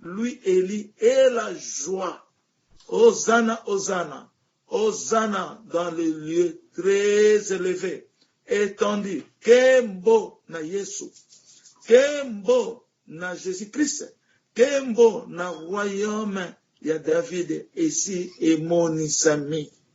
Louis Eli et la joie Hosanna Hosanna Hosanna dans le lieu très eleve etendu Kembo na Yesu Kembo na Jesus Christ Kembo na royaume ya David esi emonisami.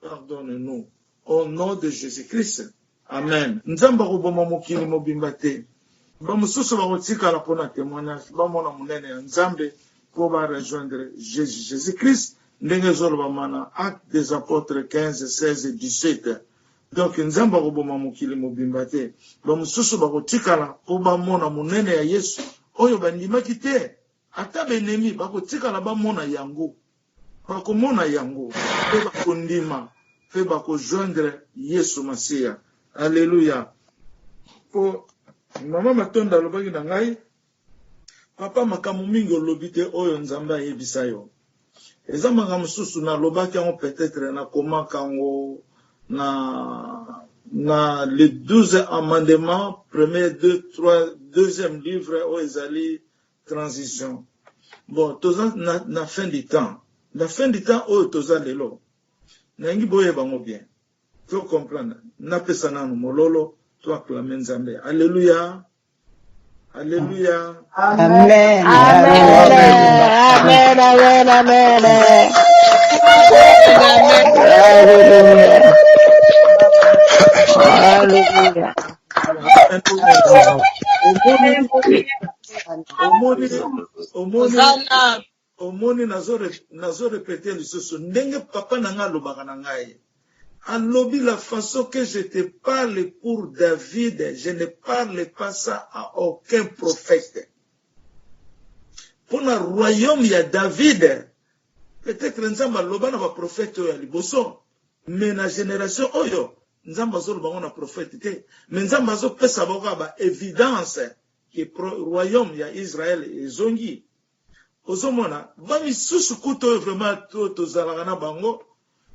Pardonne nous au nom de Jesus Christ amen nzambe akoboma mokili mobimba te ba mosusu bakotikala mpo na temoignage bamona monene ya nzambe mpo ba rejoindre Jesus Jesus Christ ndenge ezolobama na acte des apotres 15 16 et 17 donc nzambe akoboma mokili mobimba te ba mosusu bakotikala mpo bamona monene ya yesu oyo bandimaki te ata benemi bakotikala bamona yango Bakomona yango pe bakondima, pe bako joindre Yesu Masiya. Alleluia! Po Mama Matondo alobaki na ngai, Papa, makambo mingi olobi te oyo Nzambe ayebisa yo. Eza makambo mosusu nalobaki yango peut-etre nakomaka yango na, na les douze amendements, premier, deux, trois, deuxième livre oyo ezali Transition bon toza na na fin du temps na fin du temps oyo toza lelo nalingi boyeba yango bien to comprendre napesa nanu mololo to acclame nzambe alleluia alleluia Amen. Amen. Amen. Amen. Amen. Hallelujah. Hallelujah. omoni omoni omoni nazo nazo repete lisusu ndenge papa na ngai alobaka na ngai alobi la façon que je te parle pour David je ne parle pas ça à aucun prophète mpona royaume ya David peut-être nzambe aloba na baprofete oyo ya liboso me na génération oyo nzambe azoloba yango na profete te me nzambe azopesa bango kaka baevidence que royaume ya Israël ezongi ozo mona ba misusu kutu oyo vraiment to tozalaka na bango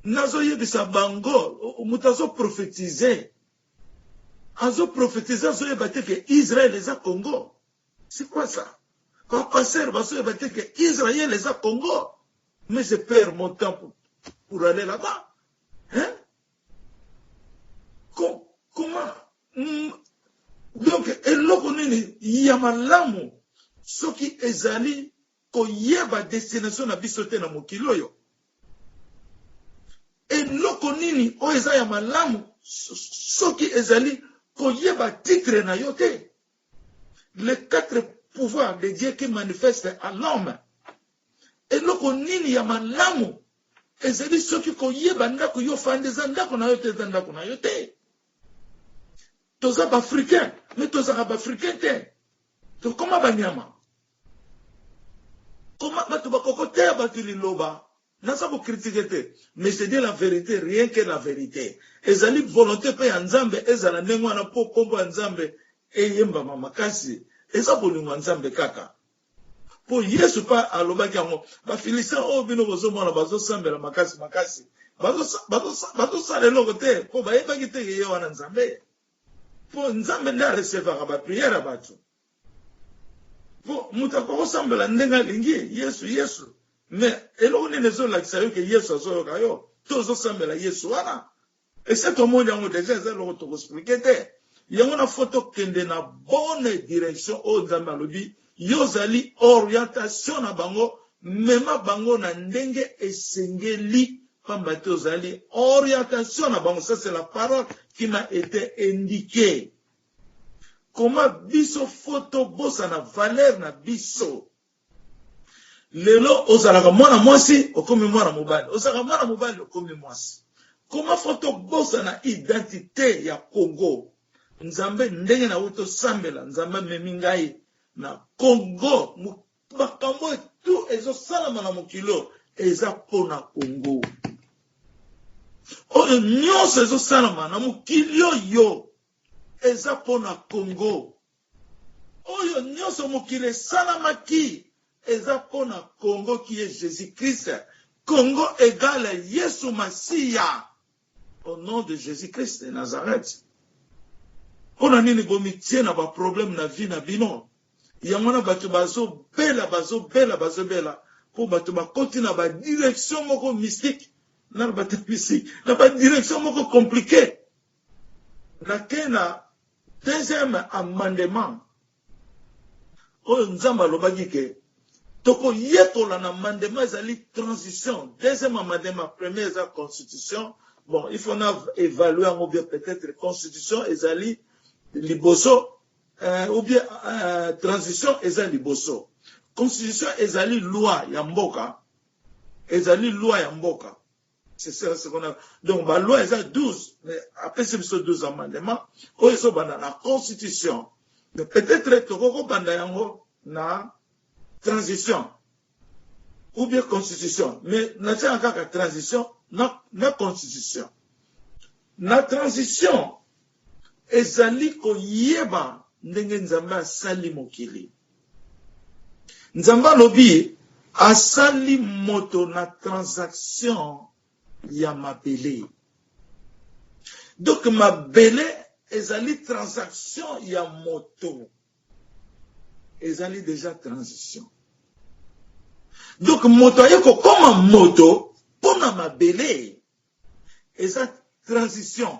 nazo yebisa bango mutu azo prophetise azo prophetise azo yeba te que Israël eza Congo c'est quoi ça ba pasteur bazo yeba te que Israël eza Congo mais je perds mon temps pour, pour aller là-bas hein Com comment Hum donc eloko nini ya malamu soki ezali koyeba destination na biso te na mokili oyo? Eloko nini oyo eza ya malamu soki ezali koyeba titre na yo te? Les quatre pouvoirs de Dieu qui manifeste à l'homme. Eloko nini ya malamu ezali soki koyeba ndako yo fandi eza ndako na yo te eza ndako na yo te? Toza ba africain mais tozaka ba africain te tokoma ba nyama koma batu bakoko te ya batu liloba naza ko critique te mais je dis la verite rien que la verite ezali volonte pe ya nzambe ezala ndenge wana po kombo ya nzambe eyembama makasi eza bolingo ya nzambe kaka Po Yesu pe alobaki yango. Ba Philistins oyo bino bozo mona bazo sambela makasi makasi, bazo sala eloko te po bayebaki te que ye wana Nzambe. Po Nzambe nde a recevaka ba prières ya batu. Po mutu akoki ko sambela ndenge alingi, Yesu, Yesu. Mais eloko nini ezo lakisa yo que Yesu azo yoka yo? To ozo sambela Yesu wana? Esi tomoni yango dejà eza eloko toko explique te yango na faut tokende na bonne direction oyo nzambe alobi yo ozali orientation na bango mema bango na ndenge esengeli pamba te ozali orientation na bango ça c'est la parole qui m'a été indiquée comment biso faut tobosana valeur na biso lelo ozalaka mwana mwasi okomi mwana mobali ozalaka mwana mobali okomi mwasi koma fo tobosana identite ya congo nzambe ndenge na oyo tosambela nzambe amemi ngai na congo makambo oyo tu ezosalama na mokilo eza mpo na congo oyo nyonso ezosalama na mokili oyo eza mpo na congo Oyo nionso mokili esalamaki eza po na Congo qui est Jesus Christ Congo egale Yesu Masiya au nom de Jesus Christ de Nazareth po na nini bomitie na ba problème na vie na bino yango wana batu bazo bela bazo bela bazo bela po batu bakoti na ba direction moko mystique na ba direction moko complique Na ke na deuxième amendement oyo Nzambe alobaki ke toko yekola na amendement ezali transition deuxième amendement premier eza constitution bon il faut na evaluer yango bien peut etre constitution ezali liboso euh, ou bien euh, transition eza liboso constitution ezali loi ya mboka ezali loi ya mboka C'est ça ce qu'on a. Donc ba loi eza 12 mais apesi biso 12 amendements oyo ezo banda na constitution. Mais peut-être toko ko banda yango na transition ou bien constitution mais na tia kaka transition na na constitution. Na transition ezali koyeba ndenge Nzambe asali mokili. Nzambe alobi asali moto na transaction ya mabele. Donc mabele ezali transaction ya moto. Ezali deja transition. Donc moto aye kokoma moto mpo na mabele eza transition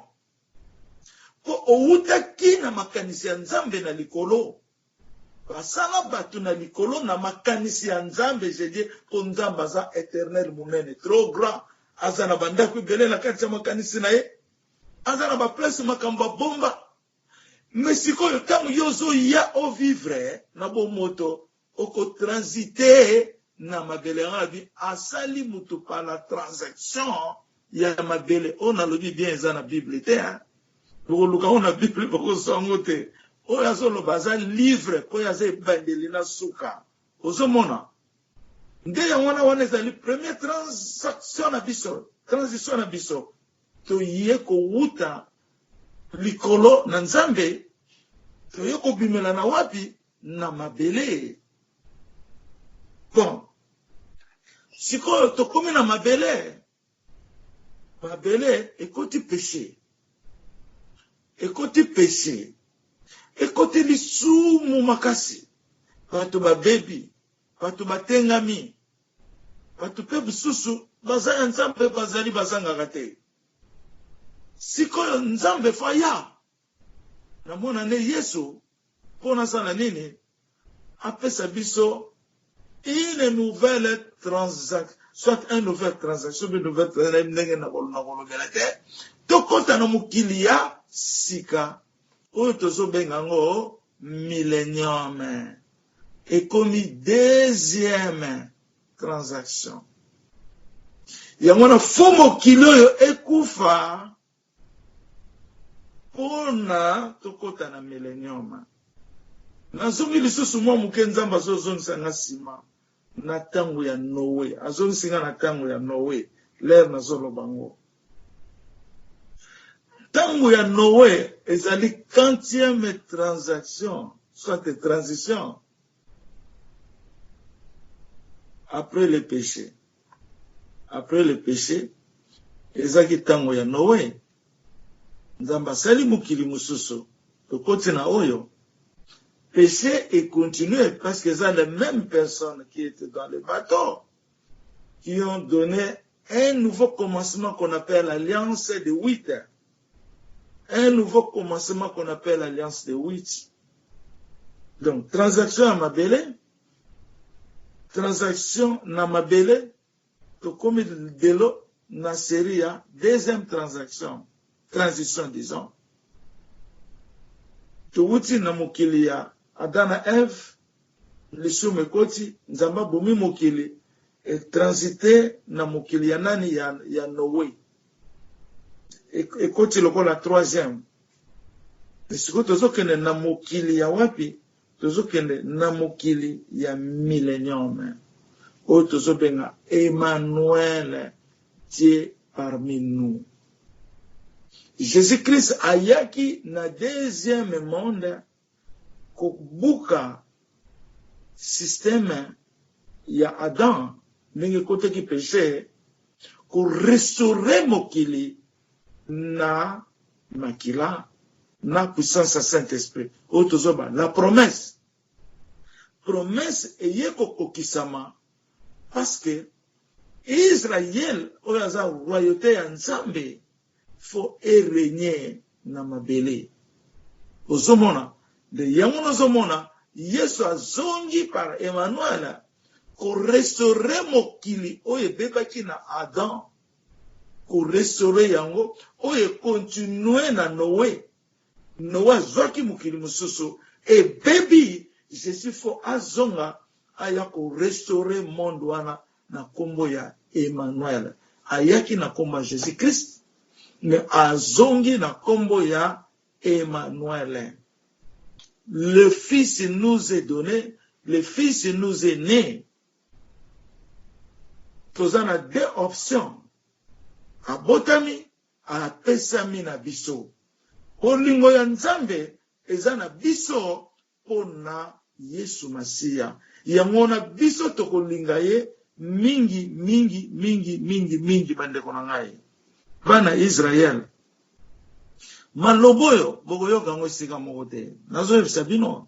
Mpo owutaki na makanisi ya Nzambe na likolo. Basala batu na likolo na makanisi ya Nzambe je dis mpo Nzambe aza eternel munene trop grand aza na ba ndaku ebele na kati ya makanisi na ye aza na ba place makambo abomba mais sikoyo tango yo ozoya o vivre na bomoto Oko transiter na mabele yango abi asali mutu par la transaction ya mabele oyo nalobi bien eza na bible te hein bokoluka yango na bible bokozwa yango te oyo azoloba aza livre oyo aza ebandeli na suka ozomona nde yango wana wana ezali première transaction na biso transition na biso toye kowuta likolo na nzambe toye kobimela na wapi na mabele bon sikoyo tokomi na mabele mabele ekoti peshe ekoti peshe ekoti lisumu makasi bato babebi bato batengami bato mpe mosusu baza ya nzambe bazali bazangaka te sikoyo nzambe faya Na mona nde yesu po na sala nini apesa biso une nouvelle transac soit un nouvelle transaction be nouvelle transaction na ndenge na kolobela te to kota na mokili ya sika oyo tozo benga ngo millennium ekomi deuxième transaction yango na fo mokili oyo ekufa Mpo na tokota na Millennium, nazongi lisusu mwa moke. Nzambe azozongisa nga sima na tango ya Noe. Azongisi nga na tango ya Noe, l'heure nazoloba ngo. Tango ya Noe ezali quantième transaction, soit transition, Après le peche, après le peche ezaki tango ya Noe, Nzambe asali mokili mosusu, tokoti na oyo, peche e continuer parce que eza les memes personnes qui etaient dans le bateau qui ont donne un nouveau commencement qu'on appelle alliance de huit un nouveau commencement qu'on appelle alliance de Witch. Donc, transaction ya mabele, transaction na mabele, tokomi lelo na série ya deuxième transaction, transition disons. Towuti na mokili ya Adam na Eve, lisumu ekoti, Nzambe abomi mokili, etransite na mokili ya nani ya, ya Noe. ekoti lokola troisième sikoyo tozokende na mokili ya wapi tozokende na mokili ya millennium oyo tozobenga emmanuel dieu parmi nous jésus christ ayaki na deuxième monde Kobuka système ya Adam ndenge ekotaki peche, ko restaurer mokili na makila na puissance ya Saint Esprit oyo tozwa ba la promesse. Promesse eye kokokisama parce que Israël oyo aza royaute ya Nzambe faut e regner na mabele ozomona nde yango nazomona yesu azongi par Emmanuel ko restaurer mokili oyo ebebaki na Adam ko restaurer yango oyo e continuer na Noe Noe azuaki mokili mosusu ebebi je suis faut azonga aya ko restaure monde wana na kombo ya Emmanuel ayaki na kombo ya Jesus Christ mais azongi na kombo ya Emmanuel le fils nous est donne le fils nous est ne toza na deux options abotami apesami na biso. Bolingo ya Nzambe eza na biso mpo na Yesu Masiya. Yango wana biso tokolinga ye mingi, mingi, mingi, mingi, mingi. Bandeko na ngai, bana Yisraele, maloba oyo bokoyoka yango esika moko te. Nazoyebisa bino,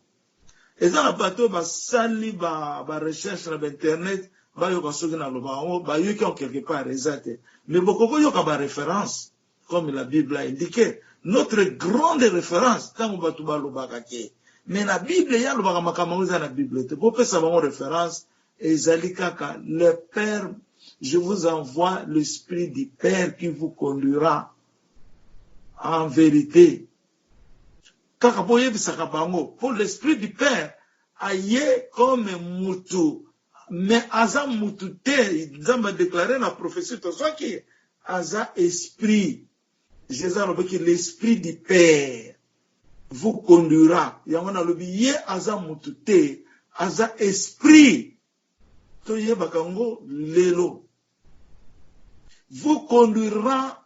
Eza na bato oyo basali ba ba recherche na ba internet bayoka soki nalobaka yango bayoki yango quelque part eza te mais bokoki koyoka ba reference comme la bible a indique notre grande reference ntango bato balobaka ke mais na bible ye alobaka makambo yango eza na bible te bopesa bango reference ezali kaka le père je vous envoie l'esprit du père qui vous conduira en vérité Kaka bo yebisaka bango po l'esprit du père aye comme mutu mais aza mutu te nzambe a declare na prophetie tozwaki aza esprit jesus alobaki l'esprit du père vous conduira yango nalobi ye aza mutu te aza esprit toyebaka yango lelo vous conduira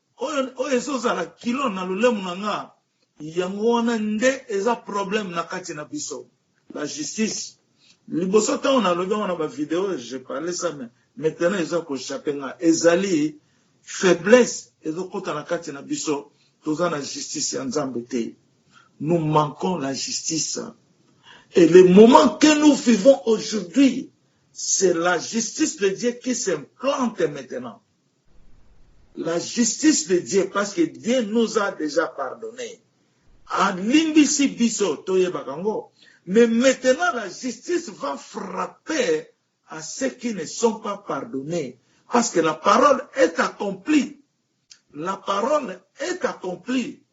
Oyo oyo ezo zala kilo na lolemu na nga yango wana nde eza problème na kati na biso la justice liboso tango na lobi yango na ba video je parle ça mais maintenant eza ko chape nga ezali faiblesse ezo kota na kati na biso toza na justice ya nzambe te nous manquons la justice et le moment que nous vivons aujourd'hui c'est la justice de Dieu qui s'implante maintenant La justice de Dieu parce que Dieu nous a dejà pardonne alimbisi biso toyebaka ngo mais maintenant la justice va frapper à ceux qui ne sont pas pardonne parce que la parole est accomplie la parole est accomplie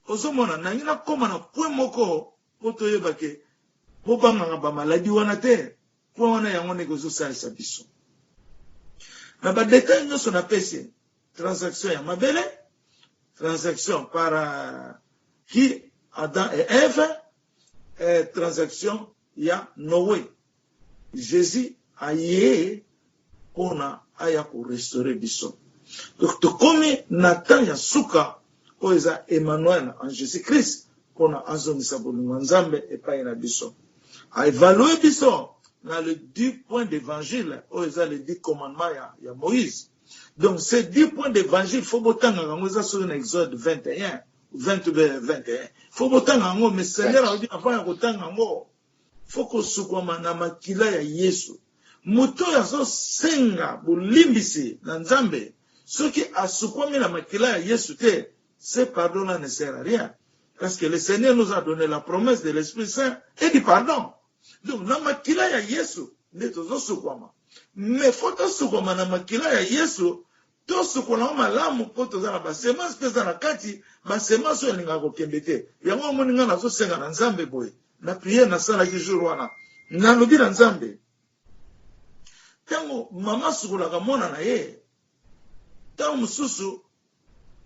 ozomona nangi nakoma na point moko Po toyeba ke bo bangaka ba maladie wana te. Point wana yango ndeko ezo salisa biso. Na ba details nionso na pesi, transaction ya mabele, transaction par qui Adam et Eve, eh, transaction ya Noe. Jesus aye pona aya ko restaurer biso donc tokomi na temps ya suka oyo eza Emmanuel en Jesus Christ pona azongisa bolingo ya Nzambe epayi na biso a evalue biso na le dix points d'evangile oyo eza le dix commandement ya ya Moïse donc ce dix points d'evangile faut botanga yango eza soki na exode 21 20 ou 21 faut botanga yango mais Seigneur alobi avant ya kotanga yango faut kosukwama na makila ya Yesu. Moto oyo azosenga bolimbisi na Nzambe, soki asukwami na makila ya Yesu te, ce pardon là ne sert à rien. Parce que le Seigneur nous a donne la promesse de l'Esprit Saint et du pardon. Donc na makila ya Yesu nde tozosukwama. Mais faut tosukwama na makila ya Yesu Tosukola yango malamu po toza na ba semence pe eza na kati ba semence oyo elingaka kokende te yango omoni ngai nazo senga na nzambe boye na prière na salaki jour wana na lobi na nzambe tango mama asukolaka mwana na ye tango mosusu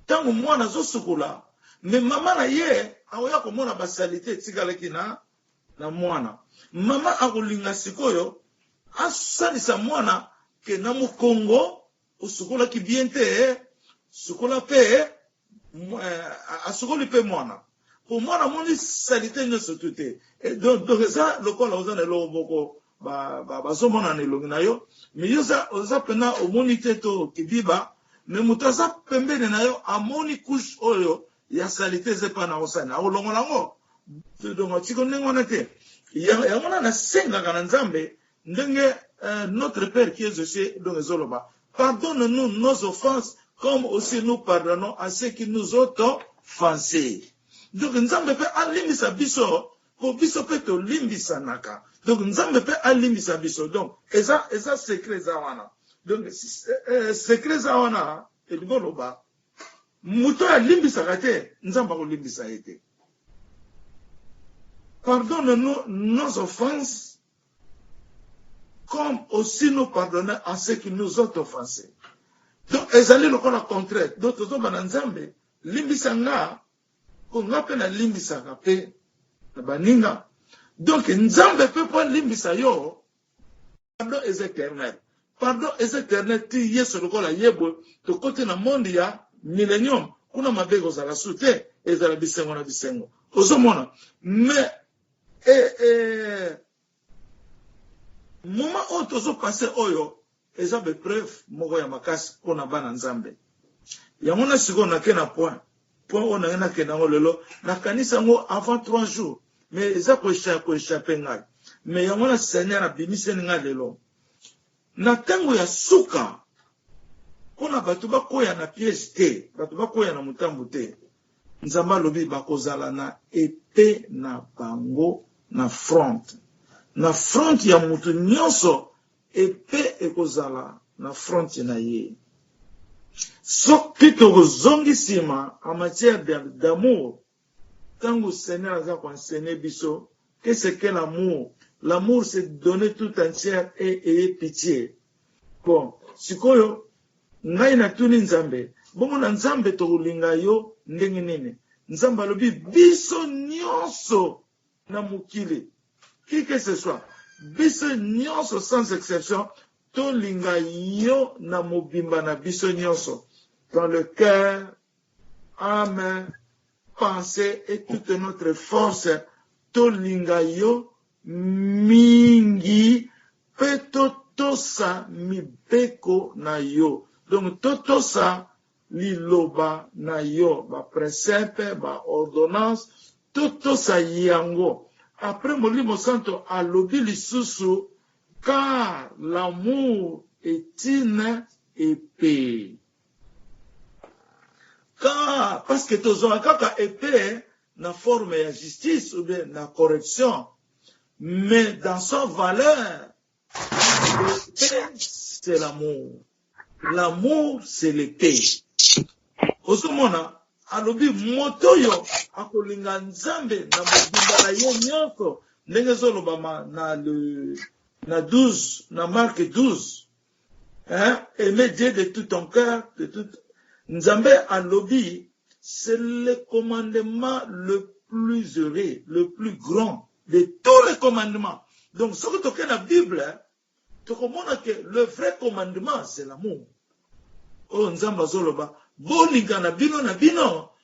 tango mwana azo sukola me mama na ye akoya komona ba salite etikalaki na na mwana mama akolinga sikoyo asalisa mwana ke na mokongo Osukolaki bien te sukola pe eh, asukoli pe mwana po mwana amoni salite nyonso tu te donc donc eza lokola oza na eloko moko bazomona na elongi na yo me yo oza mpena omoni te to kidiba me moto aza pembeni na yo amoni couche oyo ya salite eza epa na osani akolongola yango donc atiko ndenge wana te yango wana nasengaka na nzambe Ndenge notre père qui est aux cieux donc ezo loba pardonne nous nos offenses comme aussi nous pardonnons à ceux qui nous ont offensés. Donc Nzambe pe alimbisa biso po biso pe tolimbisanaka. Donc Nzambe pe alimbisa biso. Donc eza eza secret eza wana. Donc secret eza wana elingi oloba moto oyo alimbisaka te Nzambe akolimbisa ye te. Pardonne nous nos offenses comme aussi nous pardonner en ce qui nous ont offensé donc ezali lokola contraire donc tozoba na nzambe limbisa nga po nga mpe nalimbisaka mpe na baninga donc nzambe mpe mpo alimbisa yo pardon eza éternel pardon eza éternel ti yesu lokola yebwe tokoti na monde ya millennium kuna mabe ekozala su te ezala bisengo na bisengo ozomona mais Eh eh moment oyo tozo passe oyo eza be preuve moko ya makasi pona bana nzambe yango na sikoyo na ke na point point oyo nange na kenda ngo lelo na kanisa yango avant 3 jours mais eza ko echa ko echape ngai mais yango na seigneur abimiseni ngai lelo na tango ya suka pona bato bakoya na piège te bato bakoya na mutambu te Nzambe alobi bakozala na epee na bango na front. Na front ya mutu nionso epee ekozala na front na ye. Soki tozongi sima en matière d'amour tangu Seigneur aza ko enseigner biso Qu'est ce que l'amour? L'amour se donner tout entière et ayez pitie bon sikoyo ngai na tuni nzambe bongo na nzambe tokolinga yo ndenge nini nzambe alobi biso nionso na mokili qui que ce soit biso nionso sans exception tolinga yo na mobimba na biso nionso dans le cœur ame pense et toute notre force tolinga yo mingi pe totosa mibeko na yo donc totosa liloba na yo ba precepe ba ordonnance totosa yango après molimo santo alobi lisusu car l'amour est une epee Kaa parce que tozwaka kaka epee na forme ya justice ou bien na correction mais dans sa valeur l'epee c'est l'amour l'amour c'est l'epee ozomona alobi moto oyo akolinga nzambe na mobimba na ye nyonso ndenge ezolobama na le na 12 na marke 12 Hein aime Dieu de tout ton cœur de tout Nzambe alobi c'est le commandement le plus heureux le plus grand de tous les commandements donc soki toke na bible tokomona que le vrai commandement c'est l'amour oyo Nzambe azoloba bolingana bino na bino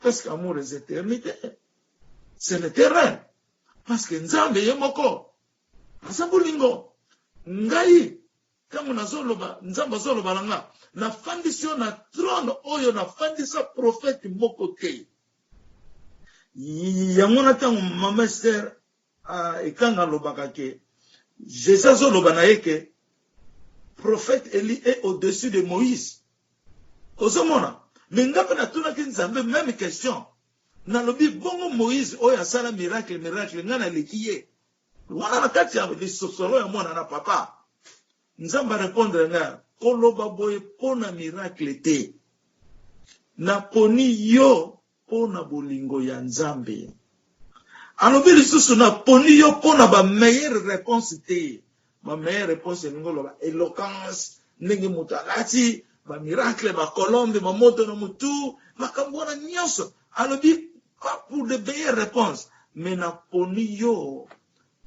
Parce que amour est eternite. C'est l'éternel. Parce que Nzambe ye moko. Aza bolingo. Ngai, tango nazoloba, Nzambe azoloba na nga. Nafandisi yo na trone oyo nafandisa prophète moko te. Yango na tango mama Esther Ahh ekanga alobaka que Jesus azo loba na ye que prophète Elie est au dessus de Moïse ozo mona mais nga pe na tunaki Nzambe meme question na lobi bongo Moïse oyo asala miracle miracle nga na leki ye wana na kati ya lisosolo ya mwana na papa Nzambe a repondre nga ko loba boye pona miracle te na poni yo Mpo na bolingo ya Nzambe. Alobi lisusu, Na poni yo mpo na ba meilleures reponses te. Ba meilleures reponses elingi oloba eloquence, ndenge moto alati, ba miracles, ba colombes, ba moto na motu, makambo wana nionso. Alobi, Pas pour de meilleures reponses, mais na poni yo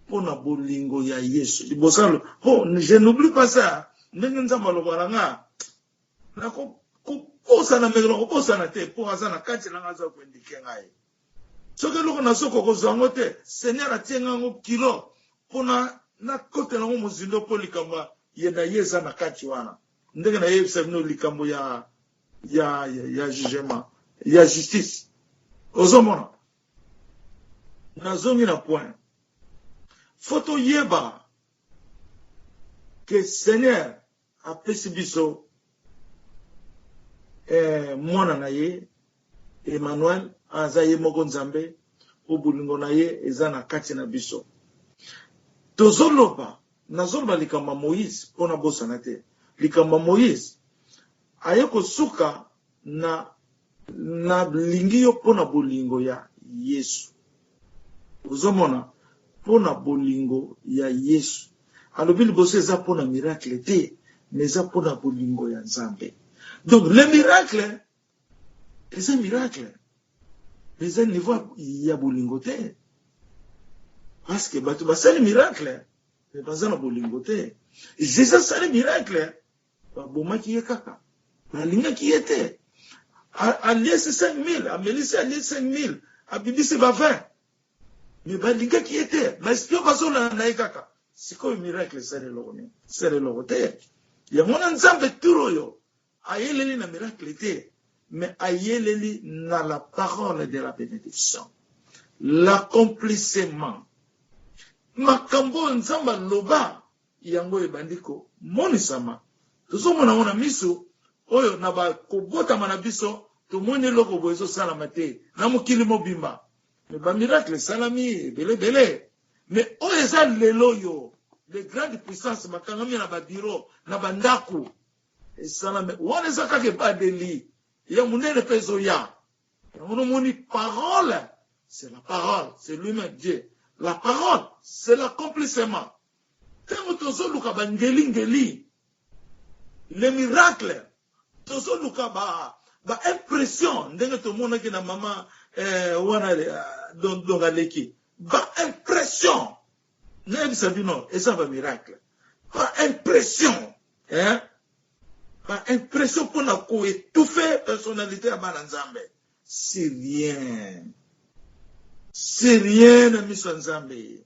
mpo na bolingo ya Yesu. Liboso aloba, mpo je n'oublie pas ça, ndenge Nzambe aloba na nga, Nako kobosana mais nako bosana te po aza na kati nanga aza ko indiquer ngai soki eloko nazo ko kozwa ngo te seigneur atie ngai ngo kilo pona na kotela ngo mozindo po likambo ye na ye eza na kati wana ndenge na yebisa bino likambo ya ya ya, ya jugement ya justice ozomona nazongi na point fo toyeba ke seigneur Apesi biso eh, mwana na ye Emmanuel aza ye moko Nzambe, mpo bolingo na ye eza na kati na biso. Tozoloba, nazoloba likambo ya Moïse mpo nabosana te likambo ya Moïse aye kosuka Na, na lingi yo mpo na bolingo ya Yesu. Ozo mona? Mpo na bolingo ya Yesu. Alobi liboso eza mpo na miracle te, mais eza mpo na bolingo ya Nzambe. Donc, le miracle, eza miracle. Mais eza niveau ya bolingo te. Parce que bato basali miracle, mais baza na bolingo te. Jésus asali miracle, Babomaki ye kaka? Balingaki ye te? Aliesi 5000, amelisi alie 5000, abibisi ba 20. Mais balingaki ye te? Ba espions bazolanda ye kaka? Sikoyo miracle esali eloko nini? Esali eloko te. Yango wana Nzambe tour oyo ayeleli na miracle te, mais ayeleli na la parole de la benediction, l'accomplissement. Makambo oyo Nzambe aloba Yango ebandi komonisama. Tozomona yango na miso oyo, na ba kobotama na biso. Tomoni eloko boye ezosalama te na mokili mobimba. Mais ba miracles esalami ebele ebele. Mais oyo eza lel'oyo, les grandes puissances bakangami na ba bureaux, na ba ndaku. Esalami. Wana eza kaka ebadeli. Ya monene pe ezoya. Yango nomoni parole, c'est la parole, c'est lui-meme Dieu. La parole, c'est l'accomplissement. Tango tozo luka ba ngeli ngeli, les miracles, tozo luka ba ba impressions ndenge to monaki na mama eh, wana don don aleki ba impressions na yebisa bino eza ba miracles ba impressions eh ba impressions pona ko étouffer personnalité ya bana Nzambe c'est rien c'est rien na miso ya Nzambe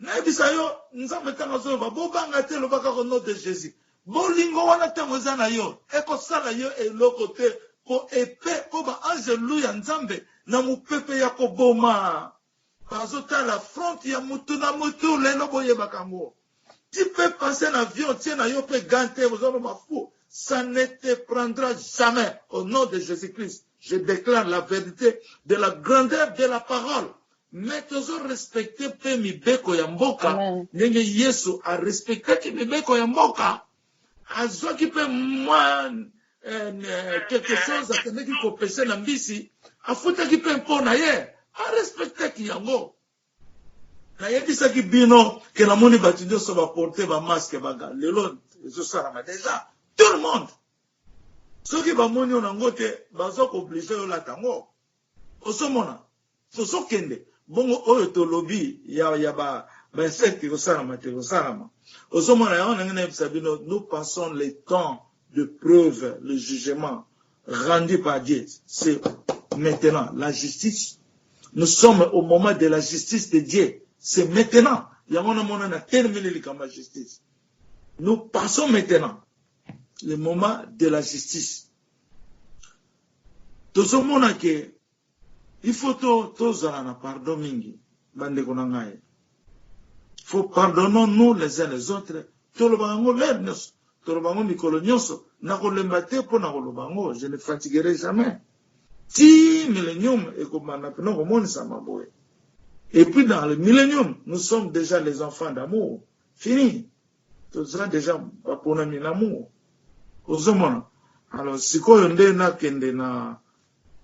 Nayebisa yo nzambe tango azoloba bobanga te loba kaka au nom de Jesus bolingo wana tango eza na yo ekosala yo eloko te po epee po ba angelu ya nzambe na mupepe ya koboma bazotala front ya mutu na mutu lelo boyebaka yango tu peux passer na avion tie na yo pe gant te oza loba fou ça ne te prendra jamais au nom de Jesus Christ je declare la verite de la grandeur de la parole Mais tozo respecter pe mibeko ya mboka Amen. ndenge Yesu a respectaki mibeko ya mboka. Azwaki pe mwa en, eh, quelque chose akendeki ko pecher na mbisi, afutaki pe impot na ye, a respectaki yango. Nayebisaki bino que namoni batu nionso ba porter ba masques ba gants. Lelo ezo salama dejà. Tout le monde. Soki bamoni yo nango te, bazo ko obliger yo olata yango. Ozo mona? Tozo kende bongo oyo tolobi ya ya ba ba insectes ekosalama te ekosalama ozo mona yango nange nayebisa bino nous passons le temps de preuve le jugement rendu par Dieu c'est maintenant la justice nous sommes au moment de la justice de Dieu c'est maintenant yango na mona na telemeli likambo ya justice nous passons maintenant le moment de la justice tozo mona ke Il faut to tozala na pardon mingi ba ndeko na ngai faut pardonnons nous les uns les autres tolobaka yango l'heure nionso toloba yango mikolo nionso nakolemba te mpo na koloba yango je ne fatiguerai jamais ti millennium ekobanda mpena komonisama boye et puis dans le millennium nous sommes déjà les enfants d'amour fini toza déjà baponami na amour ozomona alors sikoyo nde nakende na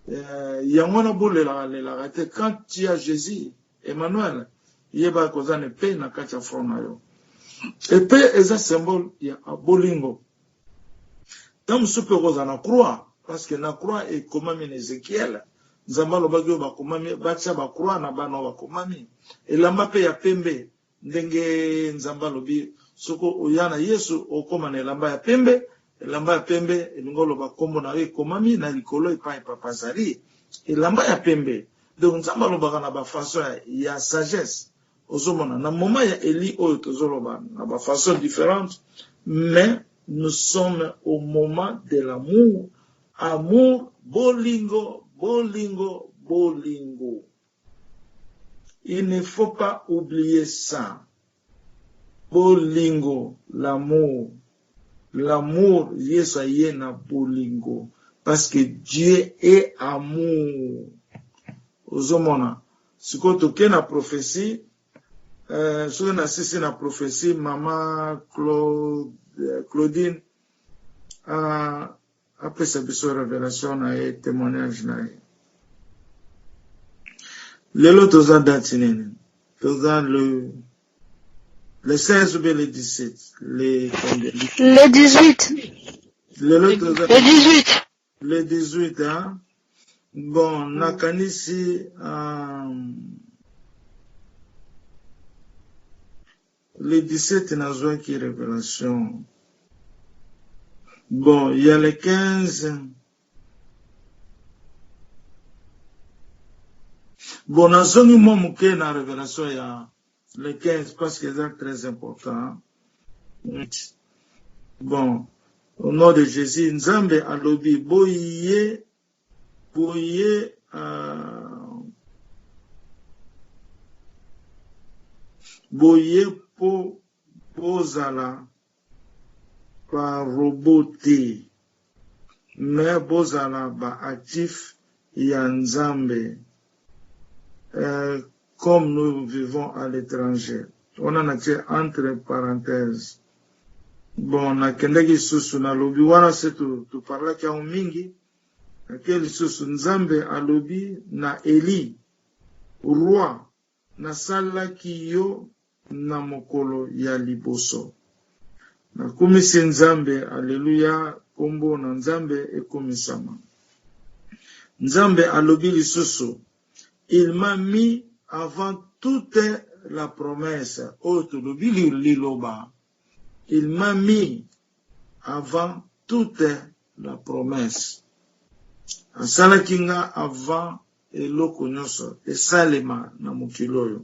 Eh, yango wana bolelaka lelaka te quand tu as Jésus Emmanuel yeba koza ne pe na kati ya front na yo epe eza symbole ya bolingo ntango mosusu mpe okozala na croix parce que na croix ekomami na ezekiele nzambe alobaki oyo bakomami batya bacroix na bana oyo bakomami elamba mpe ya pembe Ndenge Nzambe alobi, Soko oya na Yesu, okokoma na elamba ya pembe. Elamba ya pembe, elingi koloba kombo na yo ekomami na likolo epai Papa azali. Elamba ya pembe. Donc Nzambe alobaka na ba façons ya sagesse. Ozo mona? Na moment ya Elie oyo tozo loba na ba façons differentes, mais nous sommes au moment de l'amour, amour, bolingo, bolingo, bolingo. Il ne faut pas oublier ça bolingo l'amour l'amour yesu aye na bolingo parce que Dieu est amour ozomona sikoyo toke na prophetie euh, soki nasisi na prophetie mama Claude, Claudine uh, Apesa biso revelation na ye temoignage na ye. Lelo toza date nini? Toza le le 16 ou bien le 17 le le 18 lelo toza le 18 le 18 hein? bon mm. nakanisi um, Le 17 nazwaki revelation bon ya le 15 bon nazongi mwa moke na revelation ya le 15 parce que eza très important bon au nom de Jésus nzambe alobi boye Boye uh, boye po bozala ba robot te mais bozala ba actif ya Nzambe Euh comme nous vivons à l'etranger wana na tie entre parenthèse bon na kendaki lisusu na lobi wana se tu tu parlaki yango mingi na ke lisusu nzambe alobi na Elie roi na salaki yo Na mokolo ya liboso na kumisi Nzambe alleluia kombo na Nzambe ekumisama Nzambe alobi lisusu il m'a mis avant toute la promesse oyo tolobi liloba il m'a mis avant toute la promesse asalaki nga avant eloko nyonso esalema na mokili oyo.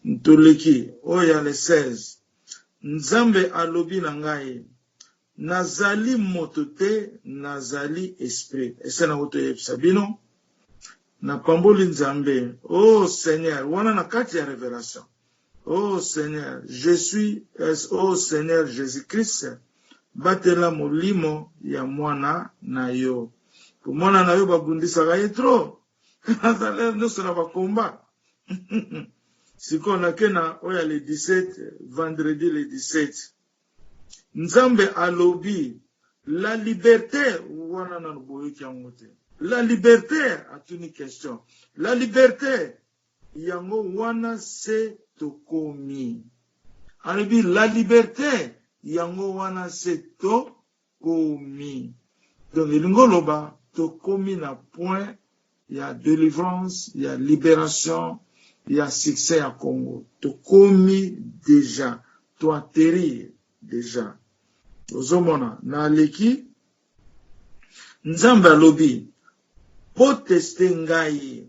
Ntoleki oyo ya le 16, Nzambe alobi na ngai, Nazali moto te, nazali Esprit. Ese na uto yebisa bino, napamboli Nzambe, oh Seigneur, wana na kati ya revelation. Oh seigneur je suis es oh seigneur Jesus Christ batela molimo ya mwana na yo po mwana na yo babundisaka ye trop aza lere nyonso na ba combat sikoyo nake na oyo ya le 17 vendredi le 17 nzambe alobi la liberte wana nano boyoki yango te la liberte atuni question la liberte Yango wana se tokomi. Alobi la liberte yango wana se to komi. Donc elingi oloba tokomi na point ya delivrance, ya liberation, ya succès ya Congo. Tokomi dejà. To atterrir dejà. Ozo mona na aleki. Nzambe alobi po tester ngai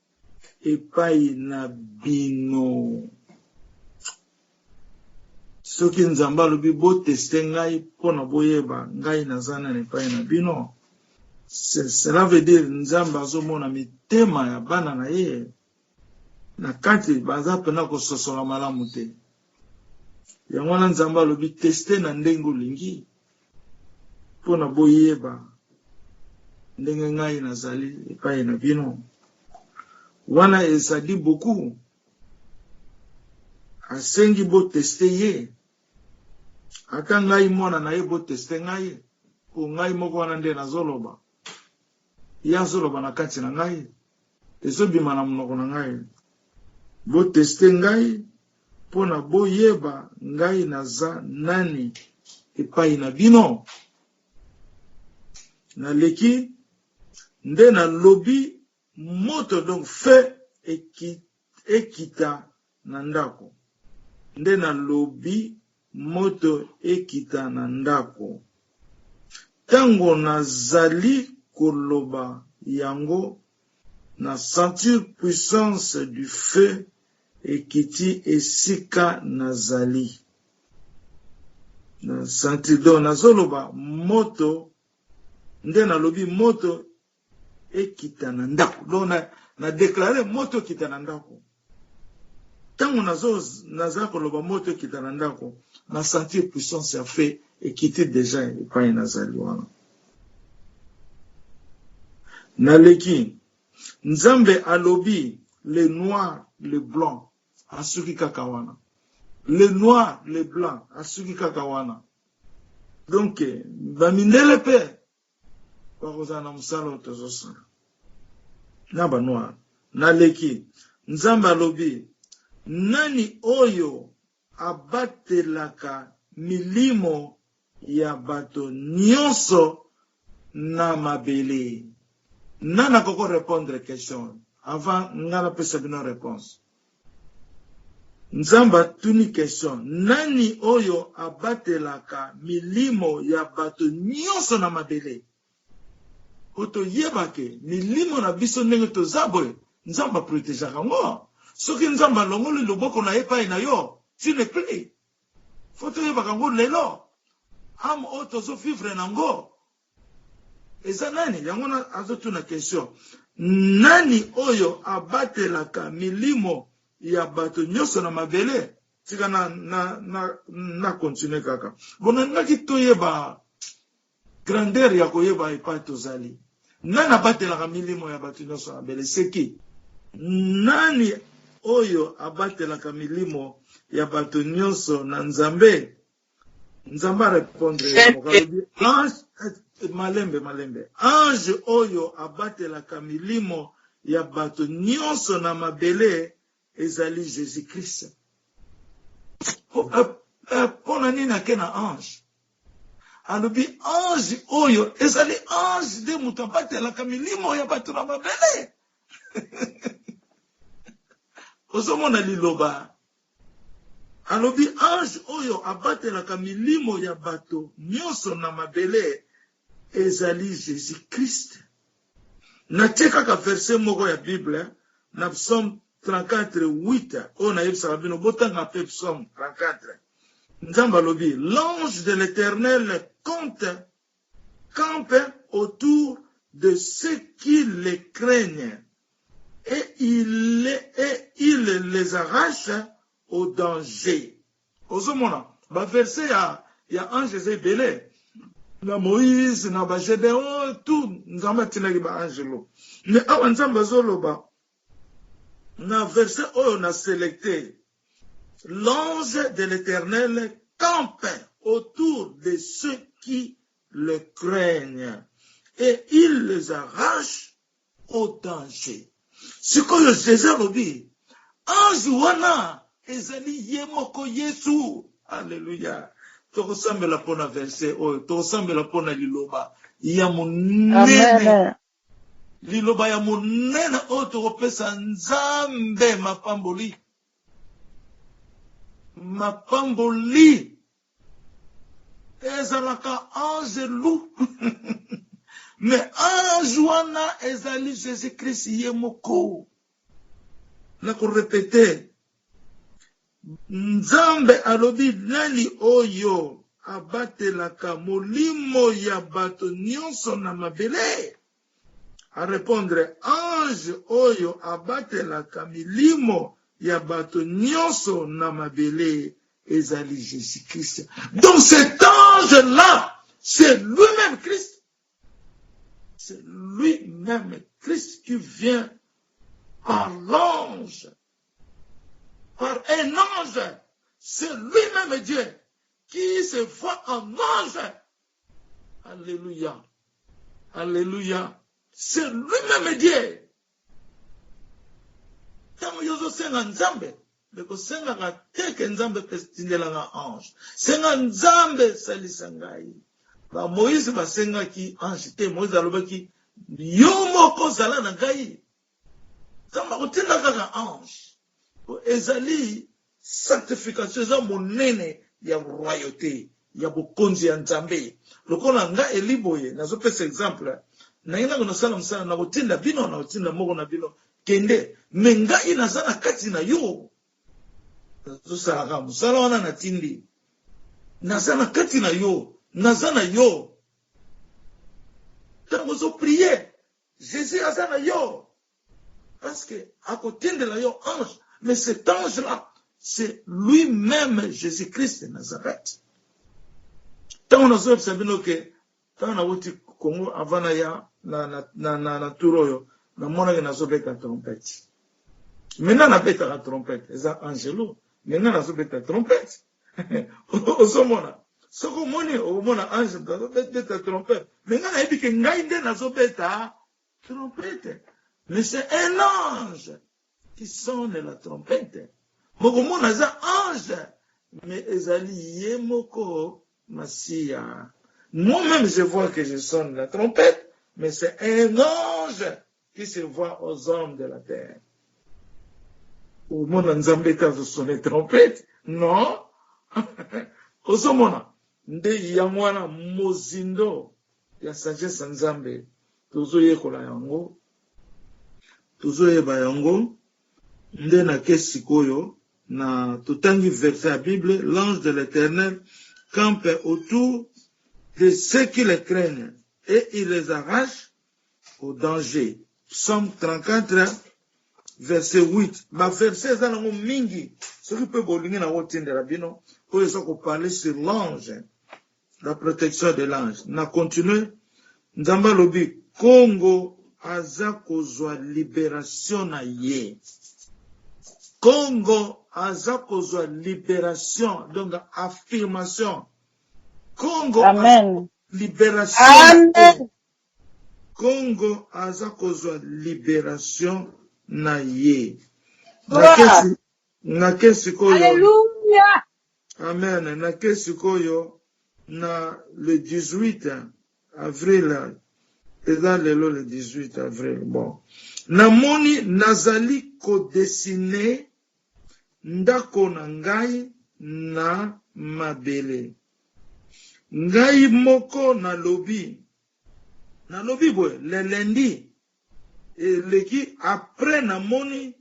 epayi na bino soki nzambe alobi boteste ngai mpona boyeba ngai naza nani epayi na bino cela veut dire nzambe azomona mitema ya bana na ye na kati baza mpena kososola malamu te Yango wana Nzambe alobi teste na ndenge olingi mpo na boyeba ndenge ngai nazali epai na bino. Wana ezali boku asengi boteste ye, ata ngai mwana na ye boteste ngai, mpo ngai moko wana nde nazoloba. Ye azo loba na kati na ngai, ezo bima na munoko na ngai. Bo tester ngai pona bo yeba ngai naza nani epayi na bino. Na leki nde na lobi moto donc feu ekiti. Ekita na ndako. Nde nalobi moto ekita na ndako. Tango nazali koloba yango, na sentir puissance du feu ekiti esika nazali. Donc nazoloba moto, nde nalobi moto ekita na ndaku donc na na declare moto ekita na ndaku tango nazo naza koloba moto ekita na ndaku na sentir puissance ya fe ekiti deja epai nazali wana naleki nzambe alobi le noir le blanc asuki kaka wana le noir le blanc asuki kaka wana donc bamindele mpe Bakozala na mosala oyo tozosala na ba noir na leki nzambe alobi nani oyo abatelaka milimo ya bato nionso na mabele nani akoki ko repondre question oyo avant nga napesa bino reponse. Nzambe atuni question nani oyo abatelaka milimo ya bato nionso na mabele? Po toyeba ke milimo na biso ndenge toza boye Nzambe a protegaka yango. Soki Nzambe alongoli loboko na ye epai na yo, tu n'es plus. Faut toyebaka yango lelo. Ame oyo tozo vivre na yango Eza nani yango wana azo tuna question nani oyo abatelaka milimo ya bato nyoso na mabele tika na na na na continue kaka bon nalingaki toyeba grandeur ya koyeba epai tozali nani abatelaka milimo ya bato nyoso na mabele seki nani oyo abatelaka milimo ya bato nyoso na nzambe Nzambe a repondre ye moko alobi ange malembe malembe ange oyo abatelaka milimo ya bato nionso na mabele ezali Jesus Christ. Pona nini ake na ange? Alobi ange oyo ezali ange nde moto abatelaka milimo ya bato na mabele. Ozomona liloba Alobi, Ange oyo abatelaka milimo ya bato nyonso na mabele ezali Jesus-Christ. Natie kaka verse moko ya Bible na Psaume 34, 8, oyo nayebisaka bino, botanga pe Psaume 34. Nzambe alobi, L'ange de l'Eternel compte campe autour de ceux qui les craignent et il les arrache au danger. Ozo mona ba verse ya ya ange eza ebele na moise na ba gedeon tout nzambe atinaki ba angelo mais awa nzambe azoloba na verse oyo na selecte L'ange de l'Eternel campe autour de ceux qui le craignent et il les arrache au danger. Sikoyo Jésus alobi ange wana ezali ye moko Yesu. Alleluia. Tokosambela pona verset oyo, tokosambela pona liloba ya monene. Amen. Liloba ya monene oyo tokopesa Nzambe mapamboli. Mapamboli ezalaka anzelu. Me ange wana ezali Jesus Christ ye moko. Na korepete, Nzambe alobi, Nani oyo abatelaka molimo ya bato nyonso na mabele? A repondre, Ange oyo abatelaka milimo ya bato nyonso na mabele ezali Jesus Christ. Donc cet ange là c'est lui meme Christ. C'est lui meme Christ qui vient par l'ange par un ange, c'est lui-même Dieu qui se voit en ange. Alléluia. Alléluia. C'est lui-même Dieu. ntango yo ozosenga nzambe me kosengaka te ke nzambe mpe tindelaka ange senga nzambe salisa ngai bamoïse basengaki ange te moïse alobaki yo moko zala na ngai Nzambe akotinda kaka ange. Ezali sanctification, eza monene ya royauté ya bokonzi ya Nzambe. Lokola nga Eli boye, nazopesa exemple, naye nako nasala mosala, nakotinda bino, nakotinda moko na bino, kende, mais ngai naza na kati na yo, nazosalaka mosala wana natindi, naza na kati na yo, naza na yo. Ntango ozo prier, Jesus aza na yo parce que ako tindela yo ange mais cet ange là c'est lui meme Jesus Christ de Nazareth tango nazo yebisa bino ke tango nawuti Congo avant na ya na na na na, na tour oyo namonaki nazo beta trompette maintenant nabetaka trompette eza angelo maintenant nazo beta trompette ozomona soki omoni omona ange moto azobeta trompete me ngai nayebi ke ngai nde nazobeta trompete me se un ange qui sonne la trompete mokomona aza ange me ezali ye moko masiya moi-même je vois que je sonne la trompete mais c'est un ange qui se voit aux hommes de la terre omona nzambe te azo sonne trompete non ozomona nde yango wana mozindo ya sagesse ya nzambe tozoyekola yango tozoyeba yango nde na ke sikoyo na totangi verse ya bible l'ange de l'éternel campe autour de ceux qui le craignent et il les arrache au danger. Psaume 34 verset 8. Ba verset eza nango mingi. Soki pe bolingi na otindela bino oyo eza ko parler sur l'ange. La protection de l'ange. Na continuer. Nzambe alobi Congo aza kozwa liberation na ye. Congo aza kozwa liberation donc affirmation. Congo aza liberation. Amen. Congo aza kozwa liberation na ye na ke sikoyo amen na ke sikoyo na le 18 avril eza lelo le 18 avril bon na moni nazali ko dessiner ndako na ngai na mabele. Ngai moko nalobi, nalobi boye le lundi eleki après namoni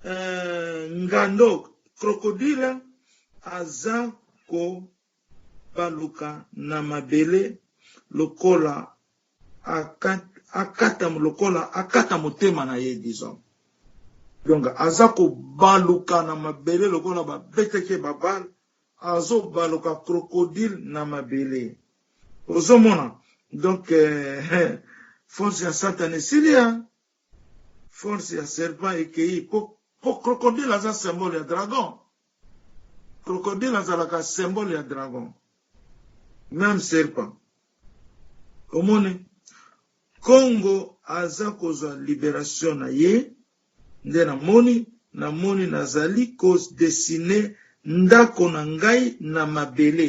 euh, ngando crocodile aza ko baluka na mabele lokola akata lokola akata motema na ye disons donc aza kobaluka na mabele lokola babetaki ye babale azobaluka crocodile na mabele ozomona donc eh, eh, force ya satana esili ya Force ya serpent ekeyi po po crocodile aza symbole ya dragon. Crocodile azalaka symbole ya dragon. Meme serpent. Omoni? Congo aza kozwa liberation na ye nde na moni na moni nazali ko dessiner ndako na ngai na mabele.